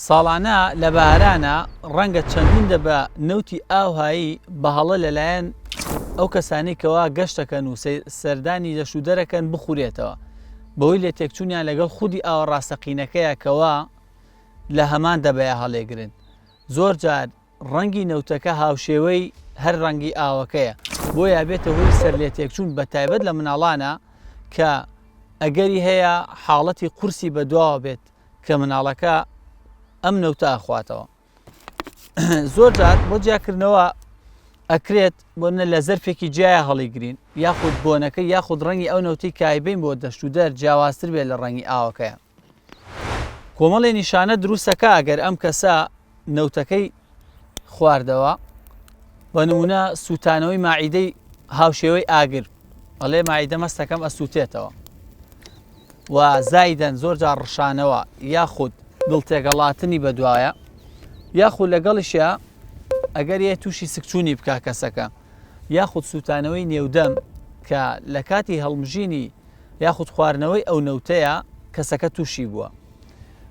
ساڵانە لە بارانە ڕەنگە چەندین دەبە نەوتی ئاوهایی بە هەڵە لەلایەن ئەو کەسانی کەوا گەشتەکەن و سەردانی لەش و دەرەکەن بخورێتەوە بەوەی لێ تێکچوونیان لەگەڵ خودی ئاوە ڕاستەقینەکەیە کەوا لە هەمان دەبەیە هەڵێگرن زۆر جار ڕەنگی نەوتەکە هاوشێوەی هەر ڕەنگی ئاوەکەیە بۆ یابێتە هۆی سەر لێ تێکچوون بە تایبەت لە مناڵانە کە ئەگەری هەیە حاڵەتی قورسی بەدواوە بێت کە مناڵەکە ئەم نەوتە ئەخواتەوە زۆر جار بۆ جیاکردنەوە ئەکرێت بۆنە لە زەرفێکی جیایە هەڵیگرین یاخود بۆنەکە یاخود ڕەنگی ئەو نەوتی کایبین بۆ دەشت و دەر جیاوازتر بێت لە ڕەنگی ئاوەکەیە کۆمەڵی نیشانە دروستەکە ئەگەر ئەم کەسە نەوتەکەی خواردەوە بە نمونە سووتانەوەی ماعیدەی هاوشێوەی ئاگر ئەڵێ ماعیدە مەستەکەم ئەسووتێتەوە و زایدەن زۆر جار ڕشانەوە یاخود دڵ تێگەڵاتنی بەدوایە یاخود لەگەڵیشە ئەگەر یە تووشی سکچوونی بکە کەسەکە یاخود سووتانەوەی نێودەم کە لە کاتی هەڵمژینی یاخود خواردنەوەی ئەو نەوتەیە کەسەکە تووشی بووە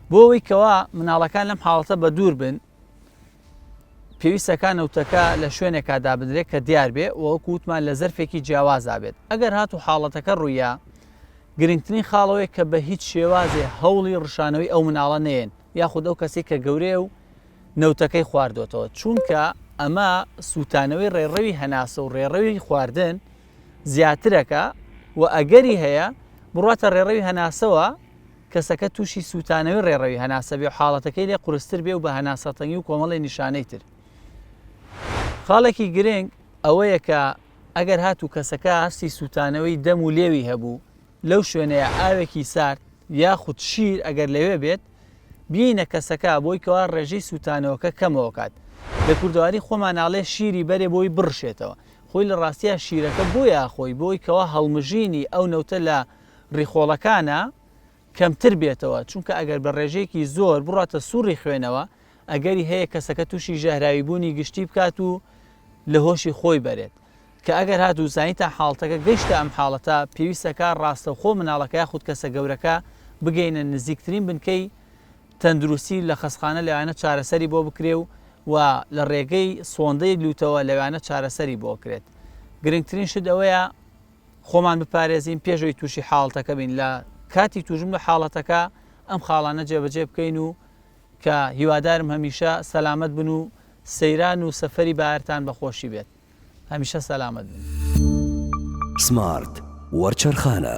بۆ ئەوەی کەوا مناڵەکان لەم حاڵەتە بە دوور بن پێویستەکان نەوتەکە لە شوێنێکا دابدرێت کە دیار بێ وەکو وتمان لە زەرفێکی جیاوازا بێت ئەگەر هات و حاڵەتەکە ڕوویە گرنگترین خاڵەوەی کە بە هیچ شێوازێ هەوڵی ڕشانەوەی ئەو مناڵە نێن یاخود ئەو کەسی کە گەورەیە و نەوتەکەی خواردۆتەوە چونکە ئەمە سووتانەوەی ڕێڕەوی هەناسە و ڕێڕەوی خواردن زیاترەکە و ئەگەری هەیە بڕواتە ڕێڕەوی هەناسەوە کەسەکە تووشی سووتانەوەی ڕێڕەوی هەناسە بێ و حاڵەتەکەی لێ قورستر بێ و بە هەناسەتەنگی و کۆمەڵێ نیشانەی تر خاڵێکی گرنگ ئەوەیە کە ئەگەر هاتوو کەسەکە هەستی سووتانەوەی دەم و لێوی هەبوو لەو شوێنەیە ئاوێکی سارد یاخود شیر ئەگەر لەوێ بێت بینە کەسەکە بۆی کەوا ڕێژەی سووتانەوەکە کەمەوە کات لە کوردەواری خۆمانناڵێ شیری بەرێ بۆی بڕشێتەوە خۆی لە ڕاستیا شیرەکە بۆیە ئەخۆی بۆی کەوا هەڵمژینی ئەو نەوتە لە ڕیخۆڵەکانا کەمتر بێتەوە چونکە ئەگەر بە ڕێژەیەکی زۆر بڕاتە سوڕی خوێنەوە ئەگەری هەیە کەسەکە تووشی ژەهراوی بوونی گشتی بکات و لە هۆشی خۆی بەرێت کە ئەگەر هات و زانیتان حاڵتەکە گەشتە ئەم حاڵەتە پێویستەکە ڕاستەوخۆ مناڵەکە یاخود کەسە گەورەکە بگەینە نزیکترین بنکەی تەندروستی و لە خەستخانە لەوانە چارەسەری بۆ بکرێ و و لە ڕێگەی سۆندەی لووتەوە لەوانە چارەسەری بۆ بکرێت. گرنگترین شت ئەوەیە خۆمان بپارێزین پێش ئەوی تووشی حاڵتەکە بین لە کاتی توژم لە حاڵەتەکە ئەم خاڵانە جێبەجێ بکەین و کە هیوادارم هەمیشە سەلامەت بن و سەیران و سەفەری بارتان بەخۆشی بێت هەمیشە سەلامەت بن. سمارت وەرچەرخانە.